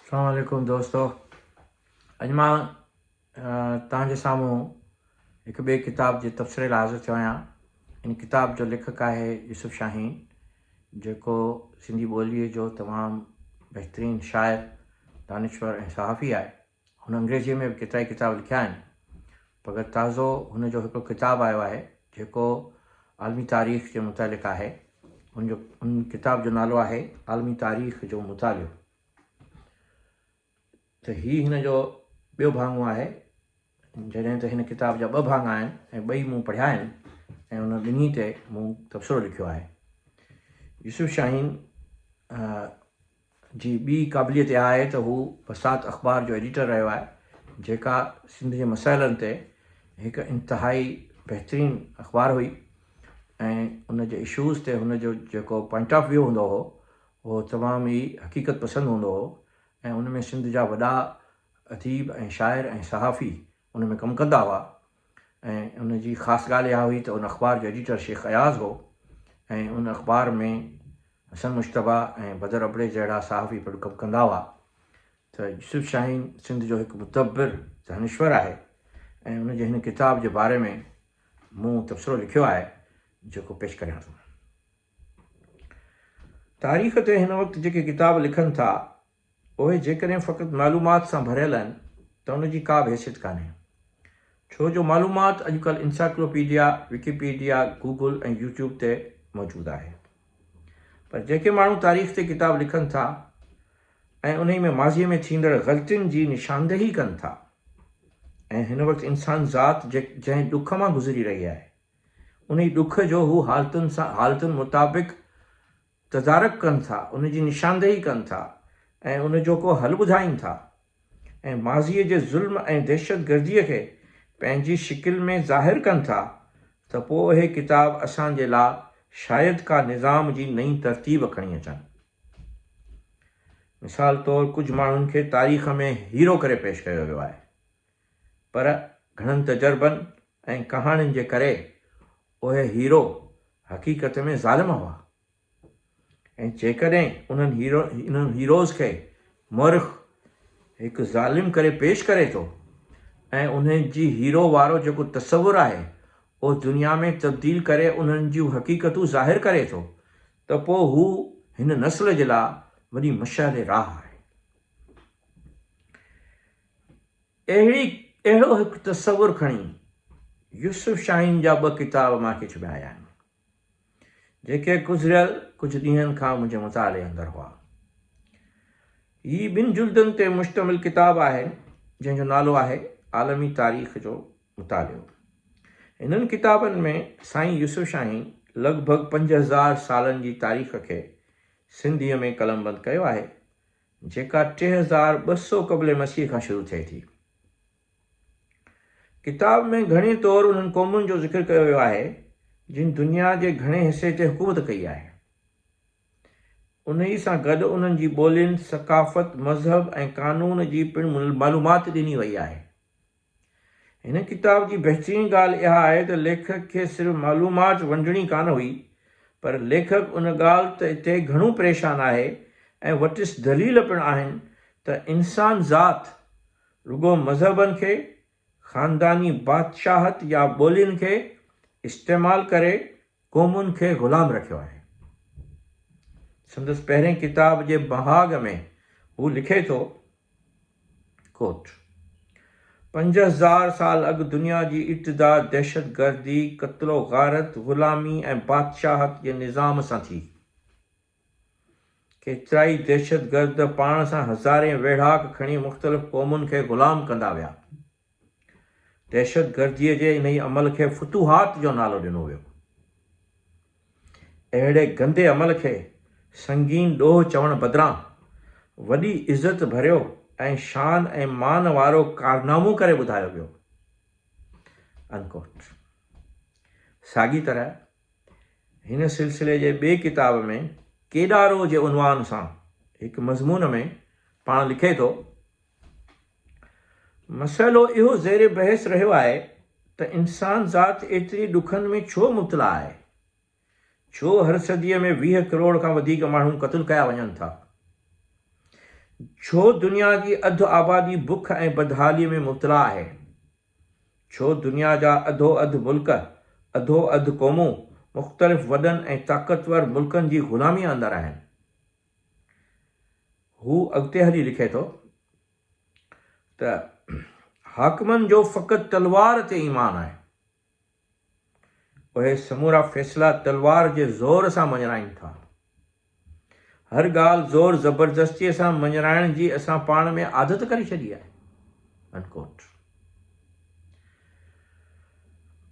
اسلام عليڪم دوستو اڄ مان توهان جي سامهون هڪ ٻئي ڪتاب جي تبصري لاء حاضر ٿيو آهيان ان ڪتاب جو ليکڪ آهي يوسف شاهين جيڪو سنڌي ٻوليء جو تمام بهترين شاعر دانشور ۽ صحافي آهي هن انگريزيء ۾ به ڪيترائي ڪتاب لکيا آهن. مگر تازو هن جو هڪڙو ڪتاب آيو آهي، جيڪو عالمي تاريخ جي متعلق آهي. هن جو هن ڪتاب جو نالو آهي عالمي تاريخ جو مطالعو. ته هي هن جو ٻيو ڀاڱو آهي. جڏهن ته هن ڪتاب جا ٻه ڀاڱا آهن ۽ ٻئي مون پڙهيا آهن ۽ انهن ٻنهي تي مون تبصرو لکيو آهي. يوسف شاهين جي ٻي قابليت اها آهي ته هو بسانت اخبار جو ايڊيٽر رهيو آهي، جيڪا سنڌ جي مسئلن تي هڪ انتهائي بهترين اخبار هئي ۽ ان جي اشوز تي هن جو جيڪو پوائنٽ آف ويو هوندو هو، اهو تمام ئي حقيقت پسند هوندو هو ۽ ان ۾ سنڌ جا وڏا اديب ۽ شاعر ۽ صحافي ان ۾ ڪم ڪندا هئا ۽ ان جي خاص ڳالهه اها هئي ته ان اخبار جو ايڊيٽر شيخ اياز هو ۽ ان اخبار ۾ حسن مجتبيٰ ۽ بدر ابڙي جهڙا صحافي پڻ ڪم ڪندا هئا ته يوسف شاهين سنڌ جو هڪ مدبر دانشور آهي ۽ ان جي هن ڪتاب جي باري ۾ مون تبصرو لکيو آهي جيڪو پيش ڪريان ٿو. تاريخ تي هن وقت جيڪي ڪتاب لکن ٿا اهي جيڪڏهن فقط معلومات سان ڀريل آهن ته ان جي ڪا به حيثيت ڪانهي. ڇو جو معلومات اڄڪلهه انسائيڪلوپيڊيا، وڪيپيڊيا، گوگل ۽ يوٽيوب تي موجود آهي. پر جيڪي ماڻهو تاريخ تي ڪتاب لکن ٿا ۽ انهي ۾ ماضي ۾ ٿيندڙ غلطين جي نشاندهي ڪن ٿا ۽ هن وقت انسان ذات جنهن ڏک مان گذري رهي آهي انهي ڏک جو هو حالتن سان حالتن مطابق تدارڪ ڪن ٿا، ان جي نشاندهي ڪن ٿا ۽ ان جو ڪو حل ٻڌائين ٿا ۽ ماضيء جي ظلم ۽ دهشتگرديء کي پنهنجي شڪل ۾ ظاهر ڪن ٿا ته پوء اهي ڪتاب اسان جي لا شايد ڪا نظام جي نئين ترتيب کڻي اچن. مثال طور ڪجهه ماڻهن کي تاريخ ۾ هيرو ڪري پيش ڪيو ويو آهي. پر گهڻن تجربن ۽ ڪهاڻين جي ڪري اهي هيرو حقيقت ۾ ظالم هئا ۽ جيڪڏهن انهن هيرو انهن هيروز کي مؤرخ هڪ ظالم ڪري پيش ڪري ٿو ۽ انهن جي هيرو وارو جيڪو تصور آهي اهو دنيا ۾ تبديل ڪري انهن جون حقيقتون ظاهر ڪري ٿو ته پوء هو هن نسل جي لاء وڏي مشعل راهه آهي. اهڙي اهڙو هڪ تصور کڻي يوسف شاهين جا ٻه ڪتاب مان کي ڇپايا آهن، جيڪي گذريل ڪجهه ڏينهن کان منهنجي مطالعي اندر هئا. هي ٻن جلدن تي مشتمل ڪتاب آهن، جنهن جو نالو آهي عالمي تاريخ جو مطالعو. هنن ڪتابن ۾ سائين يوسف شاهين لڳ ڀڳ پنج هزار سالن جي تاريخ کي سنڌيء ۾ قلمبند ڪيو آهي. جيڪا ٽي هزار ٻه سؤ قبل مسيح کان شروع ٿئي ٿي. ڪتاب ۾ گهڻي طور انهن قومن جو ذڪر ڪيو ويو آهي جن دنيا جي گهڻي حصي تي حڪومت ڪئي آهي. انهي سان گڏ انهن جي ٻولين، ثقافت، مذهب ۽ قانون جي پڻ معلومات ڏني وئي آهي. هن ڪتاب جي بهترين ڳالهه اها آهي ته ليکڪ کي صرف معلومات ونڊڻي ڪانه هئي پر ليکڪ ان ڳالهه ته تي گهڻو پريشان آهي ۽ وٽس دليل پڻ آهن ته انسان ذات رڳو مذهبن کي، خانداني بادشاهت يا ٻولين کي استعمال ڪري قومن کي غلام رکيو آهي. سندس پهرين ڪتاب جي مهاڳ ۾ هو لکي ٿو Quote، پنج هزار سال اڳ دنيا جي ابتدا دهشتگردي، قتل و غارت، غلامي ۽ بادشاهت جي نظام سان ٿي. ڪيترائي دهشتگرد پاڻ سان هزارين ويڙهاڪ کڻي مختلف قومن کي غلام ڪندا ويا. دهشتگرديء جي انهيء عمل کي فتوحات جو نالو ڏنو ويو. اهڙي گندي عمل کي سنگين ڏوهه چوڻ بدران وڏي عزت ڀريو ۽ شان ۽ مان وارو ڪارنامو ڪري ٻڌايو ويو. Unquote. ساڳي طرح هن سلسلي جي ٻئي ڪتاب ۾ ڪيڏارو جي عنوان سان هڪ مضمون ۾ پاڻ لکي ٿو مسئلو اهو زير بحث رهيو آهي ته انسان ذات ايتري ڏکن ۾ ڇو مبتلا آهي؟ ڇو هر صديء ۾ ويهه ڪروڙ کان وڌيڪ ماڻهو قتل ڪيا وڃن ٿا؟ ڇو دنيا جي اڌ آبادي بک ۽ بدحاليء ۾ مبتلا آهي؟ ڇو دنيا جا اڌو اڌ ملڪ، اڌو اڌ قومون مختلف وڏن ۽ طاقتور ملڪن جي غلاميء اندر آهن؟ هو اڳتي هلي لکي ٿو ته حاڪمن جو فقط تلوار تي ايمان آهي. اهي سمورا فيصلا تلوار جي زور سان مڃرائين ٿا. هر ڳالهه زور زبردستيء سان مڃرائڻ جي اسان پاڻ ۾ عادت ڪري ڇڏي آهي. Unquote.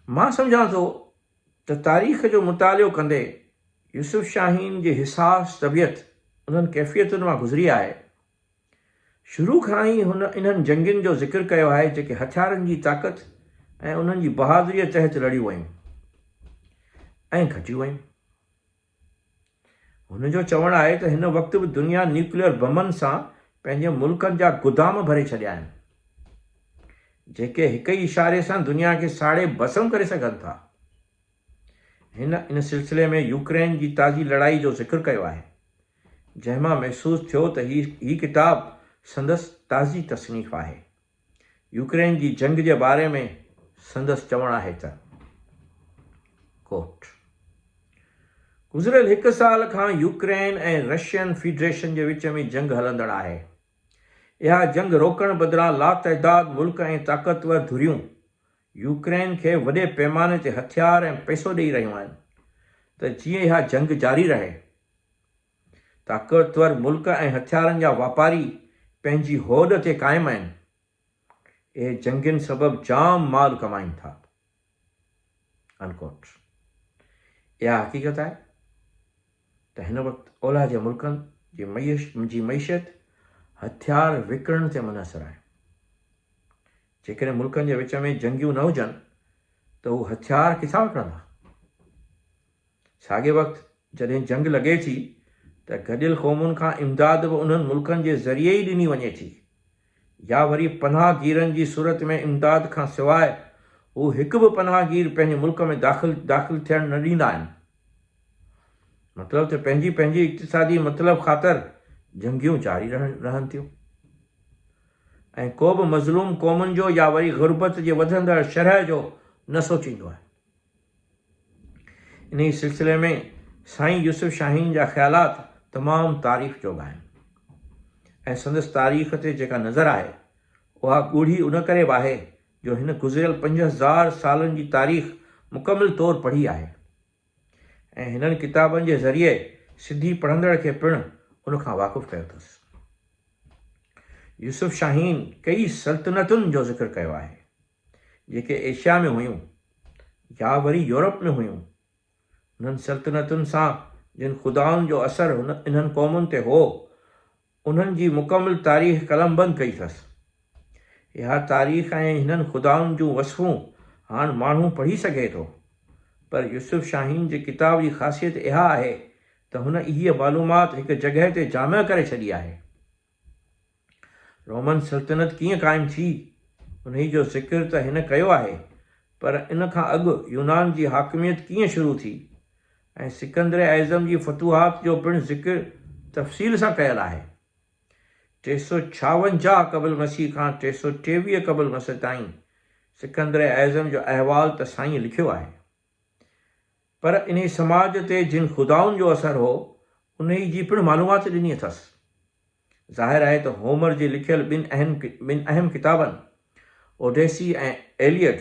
مان سمجهان ٿو ته تاريخ جو مطالعو ڪندي يوسف شاهين جي حساس طبيعت انهن ڪيفيتن مان گذري آهي. شروع کان ئي هن انهن جنگين جو ذڪر ڪيو آهي جيڪي هٿيارن جي طاقت ۽ انهن جي بهادريء تحت لڙيون ويون ۽ گهٽيون ويون. هن جو چوڻ آهي ته هن وقت به دنيا نيوڪليئر بمن سان پنهنجي ملڪن جا گدام ڀري ڇڏيا آهن، جيڪي هڪ ئي اشاري سان دنيا کي ساڙي ڀسم ڪري سگهن ٿا. هن ان سلسلي ۾ يوڪرين جي تازي لڙائي جو ذڪر ڪيو آهي، جنهن مان محسوس ٿيو ته هي ڪتاب سندس تازي تصنيف آهي. يوڪرين جي جنگ جي باري ۾ سندس چوڻ آهي ته Quote، گذريل هڪ سال کان يوڪرين ۽ رشين فيڊريشن جي وچ ۾ جنگ هلندڙ آهي. اها جنگ روڪڻ بدران لاتعداد ملڪ ۽ طاقتور ڌريون يوڪرين کي وڏي پيماني تي هٿيار ۽ پئسو ڏئي رهيون آهن ته جيئن اها جنگ جاري رهي. طاقتور ملڪ ۽ هٿيارن جا واپاري پنهنجي هوڏ تي قائم آهن. اهي جنگين سبب جام مال ڪمائين ٿا. Unquote. اها حقيقت آهي ته هن وقت اولهه جي ملڪن جي جي معيشت هٿيار وڪڻڻ تي منحصر آهي. جيڪڏهن ملڪن جي وچ ۾ جنگيون نه هجن ته هو هٿيار ڪٿان وڪڻندا؟ ساڳئي وقت جڏهن جنگ لڳي ٿي ته گڏيل قومن کان امداد به انهن ملڪن جي ذريعي ئي ڏني وڃي ٿي يا وري پناهه گيرن جي صورت ۾ امداد کان سواء هو هڪ به پناهه گير پنهنجي ملڪ ۾ داخل داخل ٿيڻ نه ڏيندا آهن. مطلب ته پنهنجي پنهنجي اقتصادي مطلب خاطر جنگيون جاري رهن رهن ٿيون ۽ ڪو به مظلوم قومن جو يا وري غربت جي وڌندڙ شرح جو نه سوچيندو آهي. انهيء سلسلي ۾ سائين يوسف شاهين جا خيالات تمام تعريف جوڳا آهن ۽ سندس تاريخ تي جيڪا نظر آهي اها ڳوڙهي ان ڪري به آهي جو هن گذريل پنج هزار سالن جي تاريخ مڪمل طور پڙهي آهي ۽ هنن ڪتابن جي ذريعي سنڌي پڙهندڙ کي پڻ ان کان واقف ڪيو اٿس يوسف شاهين ڪيئي سلطنتن جو ذڪر ڪيو آهي جيڪي ايشيا ۾ هيون يا وري يورپ ۾ هيون، انهن سلطنتن سان جن خدائن جو اثر انهن قومن تي هو، انهن جي مڪمل تاريخ قلمبند ڪئي اٿس. اها تاريخ ۽ هنن خدائن جون وصفون هاڻ ماڻهو پڙهي سگهي ٿو، پر يوسف شاهين جي ڪتاب جي خاصيت اها آهي ته هن اهي معلومات هڪ جڳهه تي جامع ڪري ڇڏي آهي. رومن سلطنت ڪيئن قائم ٿي، انهي جو ذڪر ته هن ڪيو آهي، پر ان کان اڳ يونان جي حاڪميت ڪيئن شروع ٿي ۽ سڪندر اعظم جي فتوحات جو پڻ ذڪر تفصيل سان ڪيل آهي. ٽي سؤ ڇاونجاهه قبل مسيح کان ٽي سؤ ٽيويهه قبل مسيح تائين سڪندر اعظم جو احوال ته سائين لکيو آهي. پر انهي سماج تي جن خدائن جو اثر هو، انهي جي پڻ معلومات ڏني اٿس. ظاهر آهي ته هومر جي لکيل ٻن اهم ٻن اهم ڪتابن اوڊيسي ۽ ايليئڊ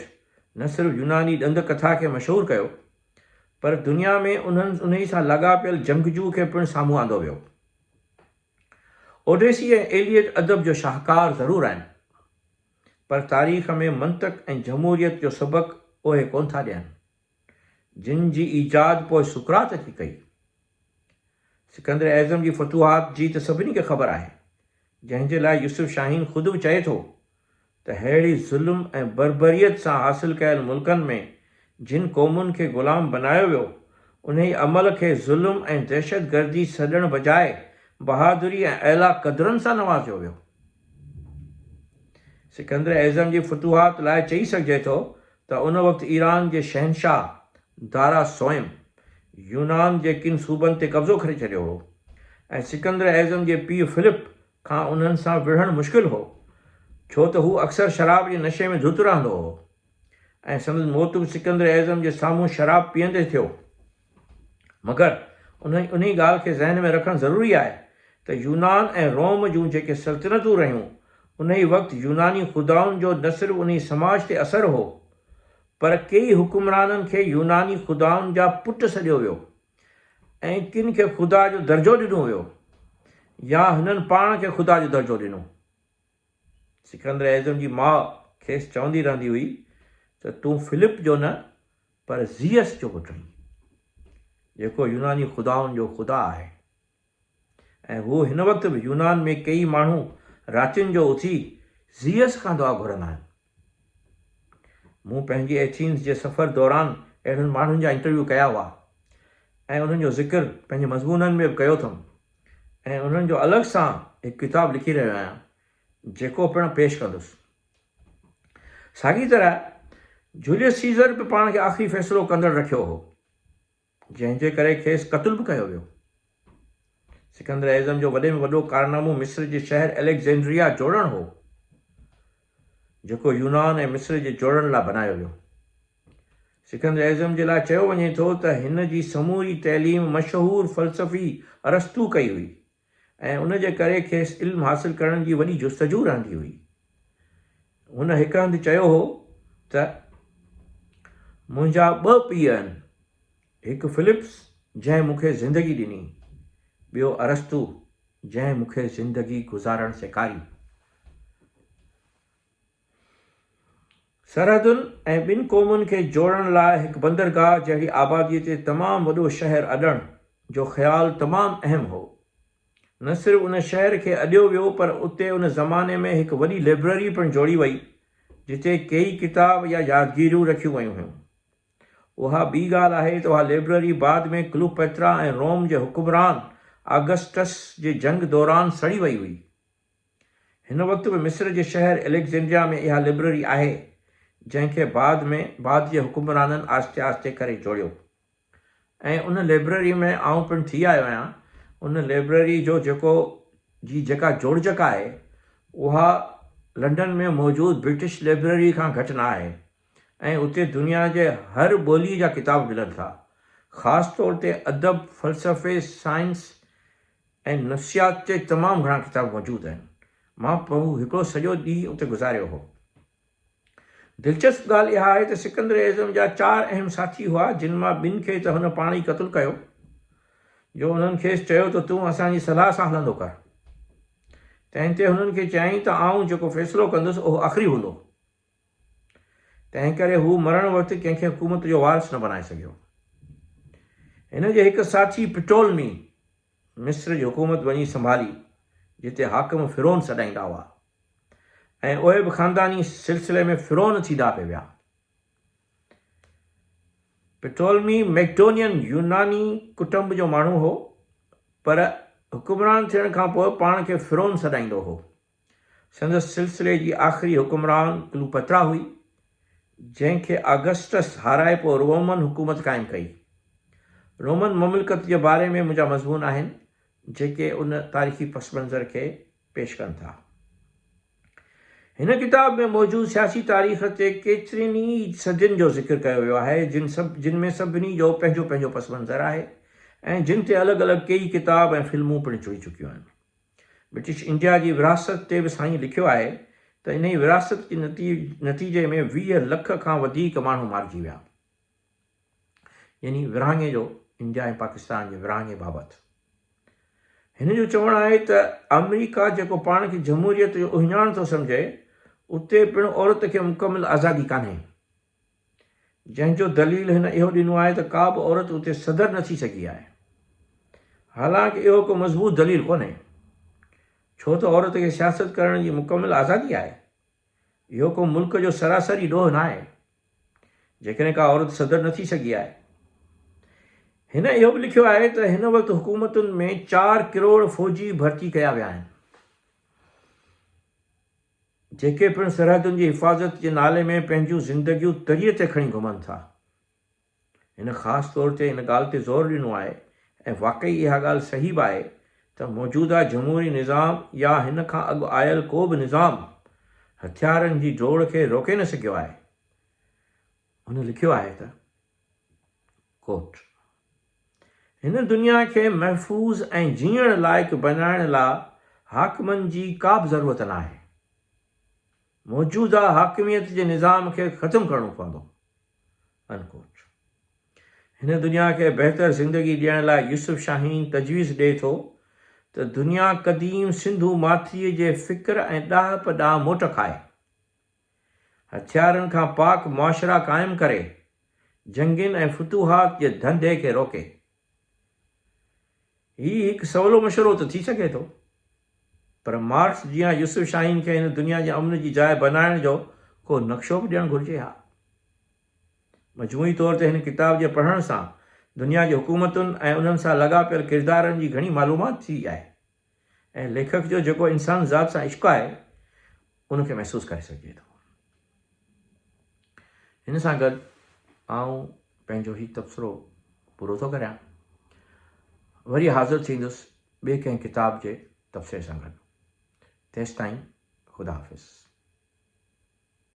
نه صرف يوناني ڏند ڪٿا کي مشهور ڪيو، پر دنيا ۾ انهن انهي سان لاڳاپيل جنگجو کي پڻ سامهون آندو ويو. اوڊيسي ۽ ايليئڊ ادب جو شاهڪار ضرور آهن، پر تاريخ ۾ منطق ۽ جمهوريت جو سبق اهي ڪونه ٿا ڏين. جن جي ايجاد پوء سقراط اچي ڪئي. سڪندر اعظم جي فتوحات جي ته سڀني کي خبر آهي، جنهن جي لاء يوسف شاهين خود به چئي ٿو ته ههڙي ظلم ۽ بربريت سان حاصل ڪيل ملڪن ۾ جن قومن کي غلام بنايو ويو، انهي عمل کي ظلم ۽ دهشتگردي سڏڻ بجاء بهادري ۽ اعليٰ قدرن سان نوازيو ويو. سڪندر اعظم جي فتوحات لاء چئي سگهجي ٿو ته ان وقت ايران جي شهنشاهه دارا سوئم يونان جي ڪن صوبن تي قبضو ڪري ڇڏيو هو ۽ سڪندر اعظم جي پيء فلپ کان انهن سان وڙهڻ مشڪل هو ڇو ته هو اڪثر شراب جي نشي ۾ ڌت رهندو هو ۽ سندس موت به سڪندر اعظم جي سامهون شراب پيئندي ٿيو. مگر انهي ڳالهه کي ذهن ۾ رکڻ ضروري آهي ته يونان ۽ روم جون جيڪي سلطنتون رهيون، انهي وقت يوناني خدائن جو نه صرف انهي سماج تي اثر هو، پر ڪيئي حڪمرانن کي يوناني خدائن جا پٽ سڏيو ويو ۽ ڪن کي خدا جو درجو ڏنو ويو يا هنن پاڻ کي خدا جو درجو ڏنو. سڪندر اعظم جي ماء کيس چوندي رهندي هئي ته تون فلپ جو نه پر زيئس جو پٽ آهين، جيڪو يوناني خدائن جو خدا آهي ۽ هو هن وقت به يونان ۾ ڪيئي ماڻهو راتين جو اٿي زيئس کان دعا گهرندا آهن. مون پنهنجي ايٿينز جي سفر دوران اهڙن ماڻهن جا انٽرويو ڪيا هئا ۽ انهن جو ذڪر پنهنجي مضمونن ۾ به ڪيو اٿم ۽ انهن جو الڳ سان هڪ ڪتاب لکي رهيو آهيان جيڪو پڻ پيش ڪندس. ساڳي طرح جوليس سيزر به پاڻ کي آخري فيصلو ڪندڙ رکيو هو. جنهن جي ڪري کيس قتل به ڪيو ويو. سڪندر اعظم جو وڏي ۾ وڏو ڪارنامو مصر جي شهر اليگزينڊريا جوڙڻ هو، جيڪو يونان ۽ مصر جي جوڙڻ لاء بنايو ويو. سڪندر اعظم جي لاء چيو وڃي ٿو ته هن جي سموري تعليم مشهور فلسفي ارسطو ڪئي هئي. ۽ ان جي ڪري کيس علم حاصل ڪرڻ جي وڏي جستجو رهندي هئي. هن هڪ هنڌ چيو هو ته، منهنجا ٻه پيء آهن، هڪ فلپس جنهن مون کي زندگي ڏني، ٻيو ارسطو جنهن مون کي زندگي گذارڻ سيکاري. سرحدن ۽ ٻن قومن کي جوڙڻ لاء هڪ بندرگاهه جهڙي آباديء تي تمام وڏو شهر اڏڻ جو خيال تمام اهم هو. نه صرف ان شهر کي اڏيو ويو پر اتي ان زماني ۾ هڪ وڏي لئبرري پڻ جوڙي وئي جتي ڪيئي ڪتاب يا يادگيريون رکيون ويون هيون. اها ٻي ڳالهه آهي ته اها لئبرري بعد ۾ ڪلوپئترا ۽ روم جي حڪمران آگسٽس جي جنگ دوران سڙي وئي هئي. هن وقت به مصر جي شهر اليگزينڊريا ۾ اها لئبرري آهي، جنهن کي بعد ۾ بعد جي حڪمرانن آهستي آهستي ڪري جوڙيو ۽ ان لئبرري ۾ آئون پڻ ٿي آيو آهيان. ان لئبرري جو جيڪو جي جيڪا جوڙجڪ آهي، اها لنڊن ۾ موجود برٽش لئبرري کان گهٽ نه آهي ۽ اتي دنيا جي هر ٻوليء جا ڪتاب ملن ٿا، خاص طور تي ادب، فلسفي، سائنس، ۽ نفسيات تي تمام گهڻا ڪتاب موجود آهن. مان پنهون هڪڙو سڄو ڏينهن اتي گذاريو هو. دلچسپ ڳالهه اها آهي ته سڪندر اعظم جا چار اهم ساٿي هئا، جن مان ٻن کي ته هن پاڻ ئي قتل ڪيو، جو انهن کيس چيو ته تون اسان جي صلاح سان هلندو ڪر. تنهن تي هنن کي چيائين ته آئون جيڪو فيصلو ڪندس، اهو آخري هوندو. تنهن ڪري هو مرڻ وقت ڪنهن کي حڪومت جو وارث نه بنائي سگهيو. هن جي هڪ ساٿي پٽولمي مصر جي حڪومت وڃي سنڀالي، جتي حاڪم فرعون سڏائيندا هئا ۽ اهي به خانداني سلسلي ۾ فرعون ٿيندا پئي ويا. پٽولمي مئڪڊونين يوناني ڪٽنب جو ماڻهو هو، پر حڪمران ٿيڻ کانپوء پاڻ کي فرعون سڏائيندو هو. سندس سلسلي جي آخري حڪمران ڪلوپترا هئي، جنهن کي آگسٽس هارائي پوء رومن حڪومت قائم ڪئي. رومن مملڪت جي باري ۾ منهنجا مضمون آهن، جيڪي ان تاريخي پس منظر کي پيش ڪن ٿا. هن ڪتاب ۾ موجود سياسي تاريخ تي ڪيترين ئي صدين جو ذڪر ڪيو ويو آهي، جن سڀ جن ۾ سڀني جو پنهنجو پنهنجو پس منظر آهي ۽ جن تي الڳ الڳ ڪيئي ڪتاب ۽ فلمون پڻ ٺهي چڪيون آهن. برٽش انڊيا جي ورهاست تي به سائين لکيو آهي ته انهيء ورهاست جي نتيجي ۾ ويهه لک کان وڌيڪ ماڻهو مارجي ويا. يعني ورهاڱي جو انڊيا ۽ پاڪستان جي ورهاڱي بابت هن جو چوڻ آهي ته آمريڪا جيڪو پاڻ کي جمهوريت جو اهڃاڻ ٿو سمجهي اتي پڻ عورت کي مڪمل آزادي ڪانهي. جنهن جو دليل هن اهو ڏنو آهي ته ڪا به عورت اتي صدر نه ٿي سگهي آهي. حالانڪ اهو ڪو مضبوط دليل ڪونهي. ڇو ته عورت کي سياست ڪرڻ جي مڪمل آزادي آهي. اهو ڪو ملڪ جو سراسري ڏوهه ناهي. جيڪڏهن ڪا عورت صدر نه ٿي سگهي آهي. هن اهو به لکيو آهي ته هن وقت حڪومتن ۾ چار ڪروڙ فوجي ڀرتي ڪيا ويا آهن. جيڪي پڻ سرحدن جي حفاظت جي نالي ۾ پنهنجون زندگيون تري تي کڻي گهمن ٿا. هن خاص طور تي ان ڳالهه تي زور ڏنو آهي ۽ واقعي اها ڳالهه صحيح به آهي ته موجوده جمهوري نظام يا هن کان اڳ آيل ڪو به نظام هٿيارن جي ڊوڙ کي روڪي نه سگهيو آهي. هن لکيو آهي ته. Quote، هن دنيا کي محفوظ ۽ جيئڻ لائق بنائڻ لا حاڪمن جي ڪابه ضرورت ناهي. موجوده حاڪميت جي نظام کي ختم ڪرڻو پوندو. Unquote، هن دنيا کي بهتر زندگي ڏيڻ لاء يوسف شاهين تجويز ڏئي ٿو ته دنيا قديم سنڌو ماٿريء جي فڪر ۽ ڏاهپ ڏانهن موٽ کائي. هٿيارن کان پاڪ معاشرا قائم ڪري، جنگين ۽ فتوحات جي ڌنڌي کي روڪي. هي هڪ سولو مشورو ته ٿي سگهي ٿو، پر مارڪس جيان يوسف شاهين کي هن دنيا جي امن جي جاء بنائڻ جو ڪو نقشو به ڏيڻ گهرجي ها. مجموعي طور تي هن ڪتاب جي پڙهڻ سان دنيا جي حڪومتن ۽ انهن سان لڳاپيل ڪردارن جي گهڻي معلومات ٿي آهي. ۽ ليکڪ جو جيڪو انسان ذات سان عشق آهي ان کي محسوس ڪري سگهجي ٿو. هن سان گڏ آئون پنهنجو هي تبصرو پورو ٿو ڪريان. وري حاضر ٿيندس ٻئي ڪنهن ڪتاب جي تبصري سان گڏ. تيستائين خدا حافظ.